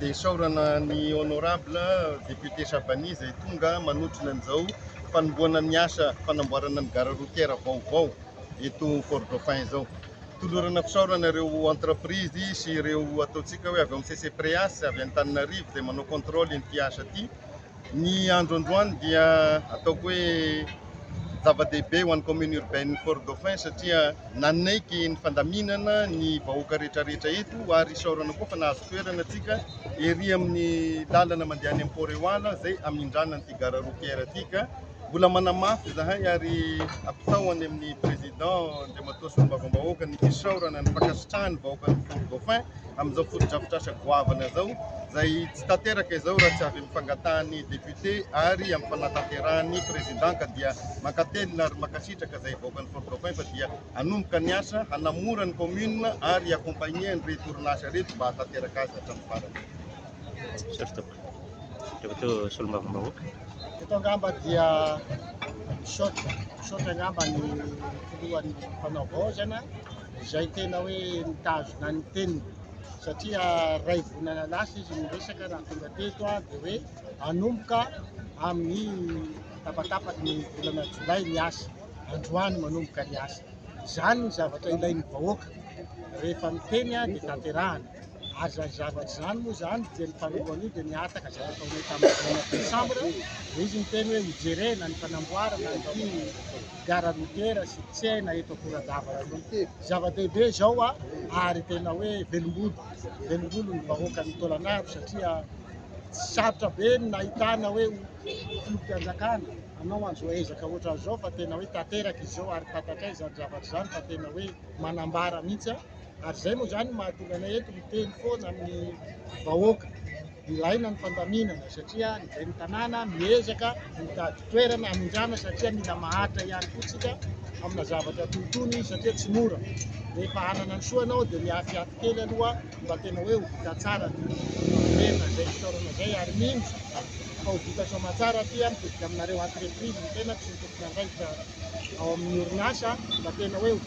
Dia isaorana ny Honorable Député Shabani izay tonga manotrona an'izao fanombohana ny asa fanamboarana ny gare routière vaovao eto Fort Dauphin izao. Tolorana fisaorana ireo entreprise sy ireo ataontsika hoe avy ao amin'ny CCPREAS avy any Antananarivo izay manao contrôle ity asa ity. Ny andro androany dia ataoko hoe zava-dehibe ho an'ny commune urbaine ny Fort Dauphin satria nanaiky ny fandaminana ny vahoaka rehetrarehetra eto ary isaorana koa fa nahazo toerana antsika ery amin'ny lalana mandeha any Port Eoala izay hamindrana an'ity gare routière ity ka mbola manamafy izahay ary apitao any amin'ny président Andriamatoa Solombavambahoaka ny fisaorana ny fankasitrahany vahoakan'ny Fort Dauphin. amin'izao fotodrafitrasa goavana izao izay tsy tanteraka izao raha tsy avy amin'ny fangatahan'ny député ary amin'ny fanatanterahany président ka dia mankatelina ary mankasitraka izay hivaokan'ny Fort Dauphin fa dia hanomboka ny asa hanamora ny commune ary accompagner an'ireto orinasa ireto mba hatanteraka azy hatramin'ny farany. Misaotra tompoko. Rehefa teo solombavambahoaka. Eto angamba dia misaotra misaotra angamba ny filohan'ny mpanao vaozana. izay tena hoe mitazona ny teniny satria ray volana lasa izy miresaka raha tonga teto a dia hoe anomboka amin'ny tapatapaky ny volana jolay ny asa androany manomboka ny asa izany ny zavatra ilain'ny vahoaka rehefa miteny a dia tanterahana Aza ny zavatra izany moa izany dia ny taloha an'io dia nihataka izay nataonay tamin'ny volana desambra dia izy niteny hoe hojerena ny fanamboarana ity gara routière sy tsena eto Akoradava ity. Zava-dehibe izao ary tena hoe velombolo, velombolo ny vahoakan'i Tôlanaro satria sarotra be ny nahitana hoe filoham-pianjakana anao an'izao ezaka ohatran'izao fa tena hoe tanteraka izy izao ary fantatrao izany zavatra izany fa tena hoe manambara mihitsy. ary izay moa izany mahatonga anay eto miteny foana amin'ny vahoaka. Ilaina ny fandaminana satria ny ben'ny tanàna miezaka mitady toerana hamindrana satria mila mahantra ihany koa tsika amina zavatra toy itony satria tsy mora. Rehefa hanana ny soa ianao dia miafiafy kely aloha mba tena hoe ho vita tsara ny toerana izay fitaorana izay ary mino fa ho vita soamantsara aty mitodika aminareo entreprise ny tenako sy ny tomponandraikitra ao amin'ny orinasa mba tena hoe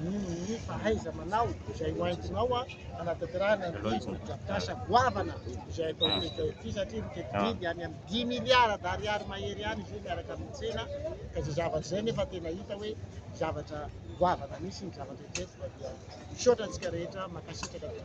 noho ny fahaiza-manao izay hoentinao hanatanterahana ny drafitrasa goavana izay atao teto ity satria miteti-bidy any amin'ny dimy miliara d'ariary mahery any izy io miaraka amin'ny tsena ka izay zavatra izay nefa tena hita hoe zavatra goavana mihitsy ny zavatra eto dia misaotra antsika rehetra mankasitraka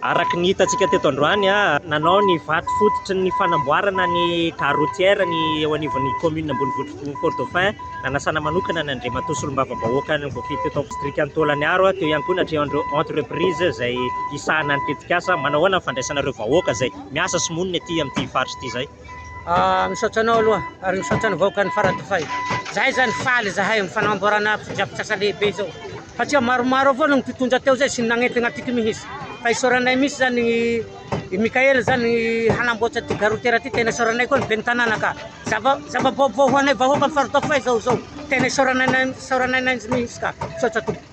Araka ny hitantsika teto androany, nanao ny vato fototry ny fanamboarana ny gare routière ny eo anivon'ny kaominina ambonivohitr'i Fort Dauphin, nanasana manokana ny Andriamatoa Solombavambahoaka ny voafidy teto amin'ny distrikan'i Tôlaniharo, teo ihany koa ny hatrehan'ireo entreprises izay hisahana ny tetikasa. Manao ahoana ny fandraisana ireo vahoaka izay miasa sy monina ety amin'ity faritra ity izay? Misaotra anao aloha ary misaotra ny vahoakan'i Faradofay. Izahay izany faly izahay amin'ny fanamboarana fotodrafitrasa lehibe izao. satria maromaro avao ny mpitondra teo zay sy ny nagnentana antsika mihintsy fa isaoranay mihintsy zany i Mickaël zany hanamboatra ty gare routière ty tena isaoranay koa ny ben'ny tanàna ka zava zava-baovao ho anay vahoaka ny faridaoko fay zao zao tena isaoranay isaoranay mihintsy ka misaotra tompoko